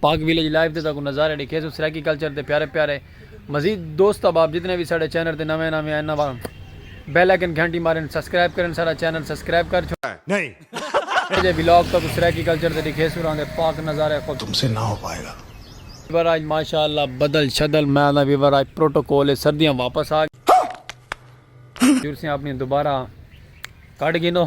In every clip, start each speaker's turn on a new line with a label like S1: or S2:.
S1: پاک village live دے تہاکوں نظارے ڈکھیسوں سرائیکی کلچر دے پیارے پیارے مزید دوست احباب جتنے وی ساڈے چینل تے نویں نویں آئن ناں بیل آئکن گھنٹی مارن سبسکرائب کرن ساڈا چینل سبسکرائب کر چھوڑن
S2: اج اے ولاگ تہاکوں
S1: سرائیکی کلچر تے ڈکھیسوں راں دے پاک نظارے خوب تم سے نہ ہو پائے گا۔
S2: ویور آج
S1: ماشاءاللہ بدل شدل میں آنداں ویور آج پروٹوکول اچ سردیاں واپس آ گئیاں۔ جرسیاں اپنی دوبارہ کٹ گینو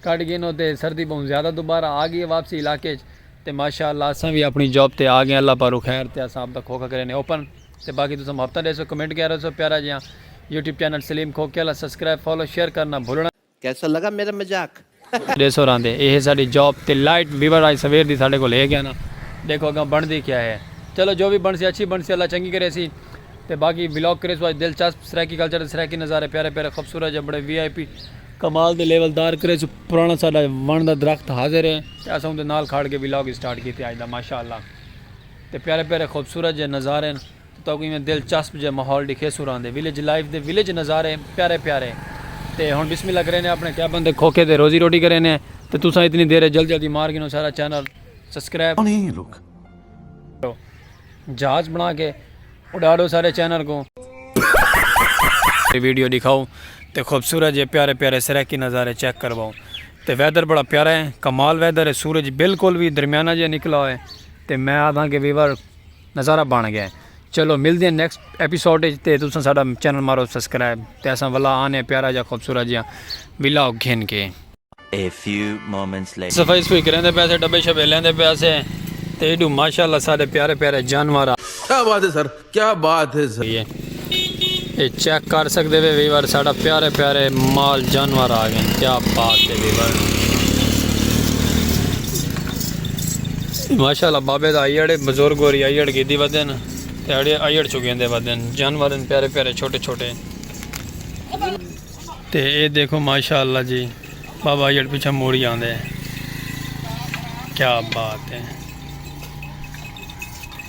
S1: کٹ گینو تے سردی بہوں زیادہ دوبارہ آ گئی واپسی علاقے چ تے ماشاءاللہ اساں وی اپنی جاب تے آ گئے اللہ پارو خیر تے اساں اپ دا کھوکھا کرے نے اوپن تے باقی تساں ہفتہ ڈیسو کمنٹ کیا رہسو پیارا جیاں یوٹیوب چینل سلیم کھوکھے والا سبسکرائب فالو شیئر کرنا بھولنا کیسا لگا میرا
S3: مذاق؟ ڈے سو راندے
S1: اے ہے ساڈی جاب تے لائٹ ویور آج سویر دی ساڈے کول ہے گیا نا ڈیکھو اگاں بنڑدی کیا ہے چلو جو وی بنڑسی اچھی بنڑسی اللہ چنگی کریسی تے باقی ولاگ کریسو اج دلچسپ سرائیکی کلچر تے سرائیکی نظارے پیارے پیارے خوبصورت جے بڑے وی آئی پی کمال دے لیول دار کریسو پرانا ساڈا ونڑ دا درخت حاضر ہے تے اساں اوندے نال کھاڑ کے ولاگ سٹارٹ کیتے اج دا ماشاءاللہ تے پیارے پیارے خوبصورت جے نظارے توں تہاکوں ایویں دلچسپ جیہا ماحول ڈکھیسوں راندے ویلیج لائف دے ویلیج نظارے پیارے پیارے تے ہن بسم اللہ کرینے اپنے کیبن دے کھوکھے تے روزی روٹی کرینے تے تساں اتنی دیر اچ جلدی جلدی مار گھنو سارا چینل سبسکرائب
S2: کرو
S1: جہاز بنا کے اڈاڑو سارے چینل کوں۔ ویڈیو ڈکھاؤ تے خوبصورت جے پیارے پیارے سرائیکی نظارے چیک کرواؤ تے ویدر بڑا پیارا ہے کمال ویدر ہے سورج بالکل وی درمیانہ جیہا نکلا ہوئے تے میں آدھاں کہ ویور نظارہ بن گئے چلو ملدے ہیں نیکسٹ ایپیسوڈ اچ تے تساں ساڈا چینل مارو سبسکرائب تے اساں ولا آنے ہیں پیارا جا خوبصورت جا ولاگ گھن کے۔ A few moments later. صفائی صفوئی کریندے پئے سے ڈبے شبے لیندے پئے سے تے ایڈو ماشاءاللہ ساڈے پیارے پیارے جانور آ کیا بات ہے سر
S3: کیا بات ہے سر۔ اے
S1: چیک کر سکدے وے ویور ساڈا پیارے پیارے مال جانور آ گئے کیا بات ہے ویور ماشاءاللہ بابے دا ایڑے بزرگ اور ایڑ کی دی ودن ایڑے ایڑ چکے دے ودن جانور ان پیارے پیارے چھوٹے چھوٹے تے اے دیکھو ماشاءاللہ جی بابا ایڑ پیچھے موڑی آندے کیا بات ہے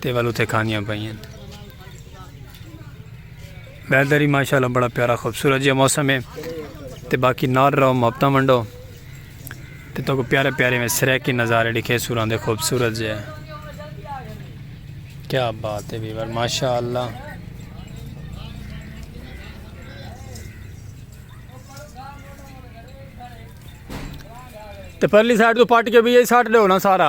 S1: تے ول اتھے کھانیاں پئیاں ویدر ہی ماشاءاللہ بڑا پیارا خوبصورت جہا موسم ہے تے باقی نال رہو محبتہ منڈو تے تو کو پیارے پیارے میں سریکی نظارے لکھے سوران دے خوبصورت جہا کیا بات ہے بیور ماشاءاللہ تے پرلی سائٹ تو پاٹ کے بھی یہی سائٹ دے ہونا سارا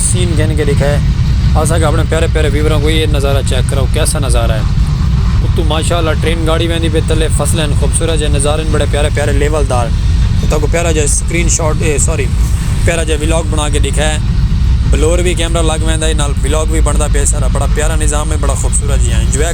S1: سین گھن کے ڈکھائے اساں کے اپنے پیارے پیارے ویوراں کو یہ نظارہ چیک کراؤ کیسا نظارہ ہے اتو ماشاءاللہ ٹرین گاڑی ویندی پی تلے فصلیں ہن خوبصورت جے نظارے ہن بڑے پیارے پیارے لیول دار تے تہاکو پیارا جیا سکرین شاٹ اے سوری پیارا جیا ولاگ بنا کے ڈکھائے بلور وی کیمرہ لگ ویندا ہے نال ولاگ وی بندا پے سارا بڑا پیارا نظام ہے بڑا خوبصورت جیا انجوائے۔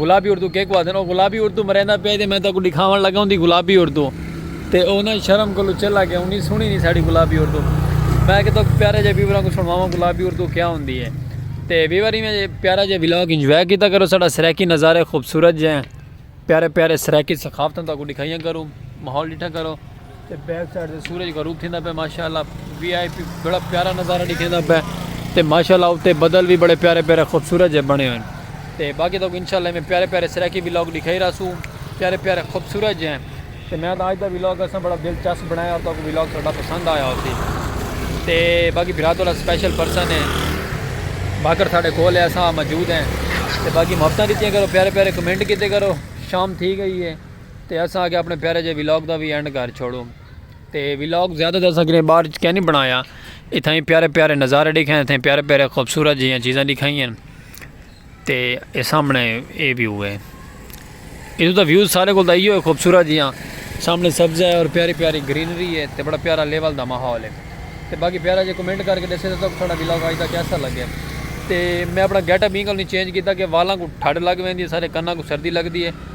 S1: گلابی اردو کیکوں آدھن او گلابی اردو مریندا پئے تے میں تاکوں ڈکھاون لگا اوندی گلابی اردو تے او انہاں شرم کولوں چلا گیا اونی سنڑی نی ساڈی گلابی اردو میں آکھیا تاکوں پیارے جے ویوراں کوں سنڑواواں گلابی اردو کیا ہوندی اے تے ویور ایویں جے پیارا جے ولاگ انجوائے کیتا کرو ساڈا سرائیکی نظارے خوبصورت جے پیارے پیارے سرائیکی ثقافتاں تاکوں ڈکھائیاں کروں ماحول ڈٹھا کرو۔ تے بیک سائیڈ تے سورج غروب تھیندا پے ماشاءاللہ وی آئی پی بڑا پیارا نظارہ دکھیندا پے تے ماشاءاللہ اوتے بدل وی بڑے پیارے پیارے خوبصورت جے بنے ہوئے تے باقی تو انشاءاللہ میں پیارے پیارے سرائیکی وی لوگ دکھائی رہا سو پیارے پیارے خوبصورت جے ہیں تے میں تو آج دا وی لوگ اساں بڑا دلچسپ بنایا تو وی لوگ ساڈا پسند آیا ہوسی تے باقی بھرا تو سپیشل پرسن ہے باکر ساڈے کول ہے اساں موجود ہیں تے باقی محبتاں دتیاں کرو پیارے پیارے کمنٹ کیتے کرو شام تھی گئی ہے تے اساں آکھیا اپنے پیارے جے ولاگ دا وی اینڈ کر چھوڑوں تے ولاگ زیادہ تر اساں کنے باہر اچ کینی بنایا اتھائی پیارے پیارے نظارے ڈیکھائیں اتھائی پیارے پیارے خوبصورت جیاں چیزاں ڈیکھائی ہیں تے اے سامنے اے ویو ہے ادھر دا ویو سارے کول دا ایو ہے خوبصورت جیاں سامنے سبزہ ہے اور پیاری پیاری گرینری ہے تے بڑا پیارا لیول دا ماحول ہے تے باقی پیارا جے کمنٹ کر کے دسے تو تھوڑا ولاگ آج دا کیسا لگے تے میں اپنا گیٹ اپ انگل نہیں چینج کیتا کہ والاں کو ٹھڈ لگ ویندی ہے سارے کناں کو سردی لگدی ہے